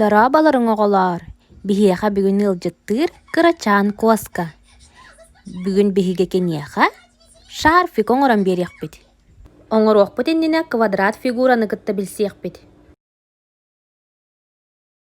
Дорооболоруҥ оҕолоор! Биһиэхэ бүгүн ыалдьыттыыр кырачаан куоска. Бүгүн биһиги киниэхэ шарфик оҥорон биэриэхпит. Оҥоруохпут иннинэ квадрат фигураны кытта билсиэхпит.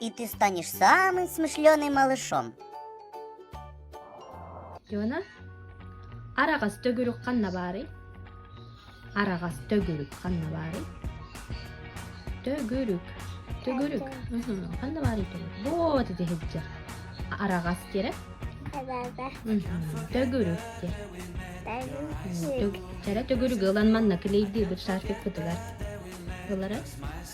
и ты станешь самым смышленым малышом. Лена, араҕас төгүрүк ханна баарый? Араҕас төгүрүк ханна баарый? Төгүрүк. Төгүрүк. Ханна баарый төгүрүк? Вот ити сылдьар. Араҕас диэрэ? Төгүрүк диэ. Төгүрүк ылан манна килейдиир быт шарфик бытыгар. Ылары?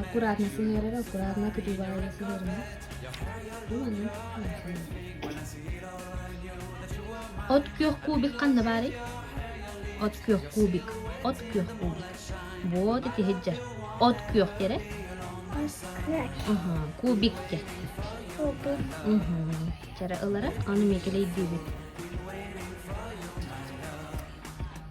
аккуратно сыһыарара аккуратно кытыыбаайла сыһыарына от күөх кубик ханна баарый от күөх кубик от күөх кубик вот итиһиджа от күөх эрэ кубикке чара ылара аны мекелей диибит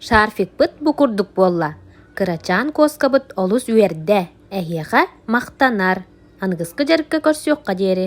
Шарфикпыт бу курдук буолла, кырачаан куоскабыт олус үөрдэ, эһиэхэ махтанар, аныгыскы дьарыкка көрсүөххэ диэри